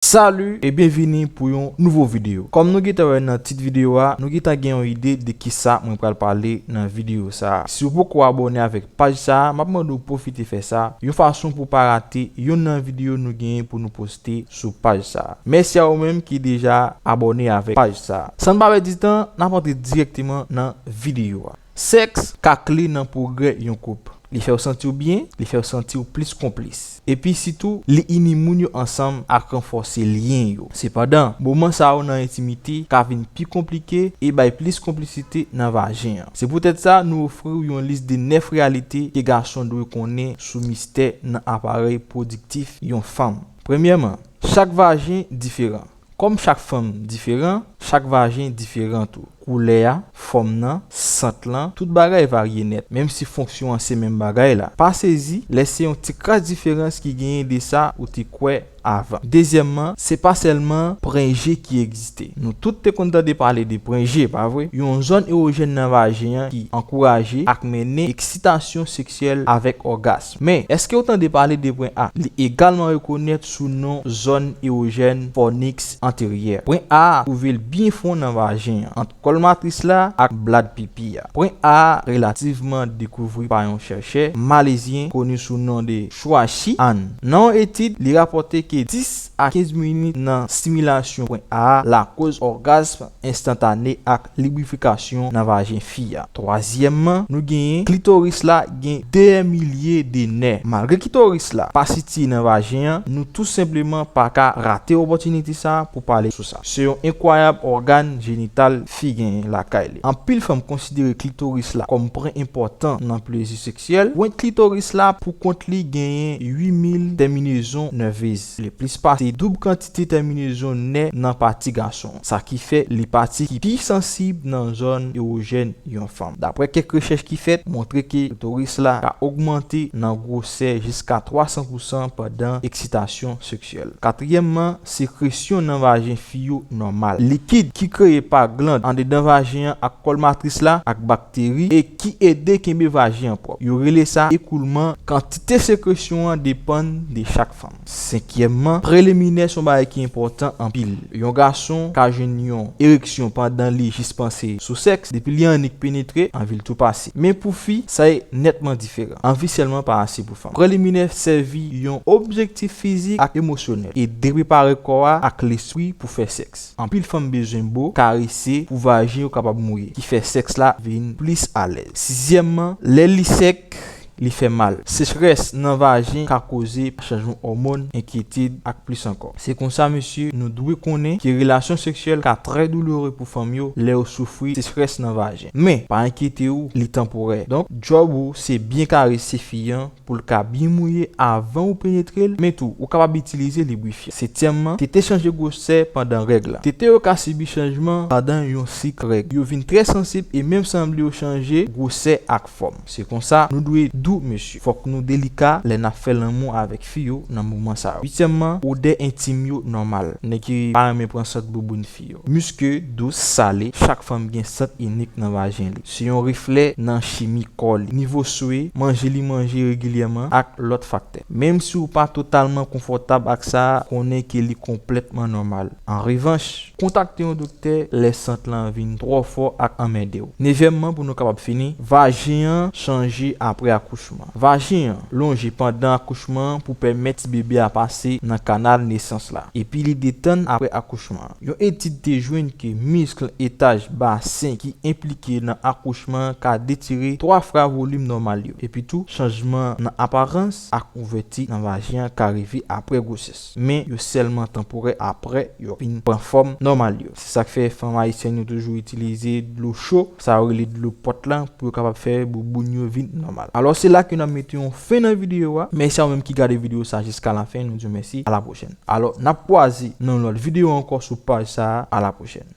Salut e byen vini pou yon nouvo video kòm nou gentan wè nan tit video a nou gentan gen yon ide de kisa mwen pral pale nan video sa siw poko abòne avèk paj sa map mande w pwofite fè sa yon fason pou pa rate yonn nan video nou genyen pou nou poste sou paj sa mèsi a ou menm ki deja abòne avèk paj sa san n pa pèdi tan nap antre dirèkteman nan video a. Sèks ka kle nan pwogrè yon koup. Li fè w santi w byen, li fè w santi w plis konplis. Epi sitou, li ini moun yo ansanm ak ranfòse lyen yo. Sepandan, moman sa yo nan entimite ka vin pi konplike e bay plis konplisite nan vajen an. Se poutèt sa, nou ofri w yon lis de 9 reyalite ke gason dwe konnen sou mistè nan aparèy pwodiktif yon fanm. Premyèman, chak vajen diferan. Kòm chak fanm diferan, chak vajen diferan tou. Koulè a, fòm nan, sant lan, tout bagay varye nèt, menm si fonksyon an se menm bagay la. Pa sezi lè se yon ti kras diferans ki genyen de sa ou te kwè avan. Dezyèmman, se pa sèlman pren je ki egziste. Nou tout te konn tande pale de pren je, pa vre? Yon zòn ewojèn nan vajen an ki ankouraje ak mennen eksitasyon seksyèl avèk ògas. Men, èske ou tande pale de pwen A? Li egalman rekonèt sou non zòn ewojèn fòniks anteryè. Pwen A a twouve l byen fon nan vajen an, ant kòl matris la ak blad pipi a. Pwen A a relativman dekouvri pa yon chèrchè malezyen koni sou non de Chua Shi An. Nan yon etid, li rapòte ke 10 a 15 minit nan similasyon pwen A a lakoz ògasm enstantane ak Librifikasyon nan vajen fi a. Twazyèmman, nou genyen klitoris la gen dè milye de nè. Malgre kitoris la pa sitiye nan vajen an, nou tou senpleman pa ka rate opòtinite sa pou pale sou sa. Se yon enkwayab ògàn jenital fi genyen lakay li. Anpil fanm konsidere klitoris la kòm pwen enpòtan nan plezi seksyèl. Pwent klitoris la pou kont li genyen 8 mil tèminezon nèvez, le plis pase doub kantite. te tèminezon nè nan pati gason, sa ki fè li pati ki pi sansib nan zòn ewojèn yon fanm. Daprè kèk rechèch ki fèt, montre ke klitoris la ka ogmante nan gwosè jiska 300 pousan pandan eksitasyon seksyèl. Katriyèmman, sekresyon nan vajen fi yo nòmal. Likid ki kreye pa gland andedan vajen an ak kòl matris la ak bakteri e ki ede kenbe vajen an pwòp. Yo rele sa ekoulman. Kantite sekresyon an depann de chak fanm. Senkyèmman, preliminè son bagay ki enpòtan anpil. Yon gason ka jwenn yon ereksyon pandan li jis panse sou sèks, depi li annik penetre, anvi l tou pase. Men pou fi, sa e nètman diferan. Anvi sèlman pa ase pou fanm. Preliminè sèvi yon objektif fizik ak emosyonèl, e de prepare kò a ak lespri pou fè sèks. Anpil fanm bezwen bo, karese, pou vajen yo kapab mouye, ki fè sèks la vin plis alèz. Sizyèmman, lè li sèk, li fè mal. Sechrès nan vajen ka koze chanjman òmòn, enkyetid, ak plis ankò. Se konsa mesye nou dwe konnen ke relasyon seksyèl ka trè doulere pou fanm yo lè yo soufri sechrès nan vajen. Men, pa enkyete ou, li tanporè. Donk, djòb ou se byen karese fi an pou l ka byen mouye avan ou penetre l, men tou ou kapab itilize librifyan. Setyèmman, tete chanje gwosè pandan règ la. Tete yo ka sibi chanjman pandan yon sik règ. Yo vin trè sansib e menm sanble yo chanje gwosè ak. fòm. Se konsa nou dwe dou mesye. Fòk nou delika lè nap fè lanmou avèk fi yo nan moman sa yo. Uityèmman, odè entim yo nòmal. Nèg ki pa renmen pran sant bouboun fi yo. Miske, dous, sale, chak fanm gen sant inik nan vajen li. Se yon reflè nan chimi kò li, nivo swe, manje li manje regilyèman ak lòt faktè. Menmsi ou pa totalman konfòtab ak sa, konnen ke li konplètman nòmal. An revanch, Kontakte yon doktè lè sant lan vin twò fò ak anmède w. Nevyèmman pou nou kapab fini, vajen an chanje apre akouchman. Vajen an lonje pandan akouchman an pou pèmèt ti bebe a pase nan kanal nesans la, epi li detann apre akouchman an. Yon etid te jwenn ke miskl etaj basen ki enplike nan akouchman an ka detire twa fra volim nòmal yo. Epitou, chanjman nan aparans ak ouvèti nan vajen an ka rive apre gwosès. men yo sèlman tanporè aprè yo fin pran fòm nòmal yo. Se sak fè fanm ayisyèn yo toujou itilize dlo cho, sa yo rele dlo pòt la, pou yo kapab fè bouboun yo vin nòmal. Alò se la ke nap mete yon fen nan videyo a, mèsi a ou menm ki gade videyo sa jiska la fen, nou diw mèsi, a la pwochèn. Alò nap kwaze nan yon lòt videyo ankò sou paj sa a, a la pwochèn.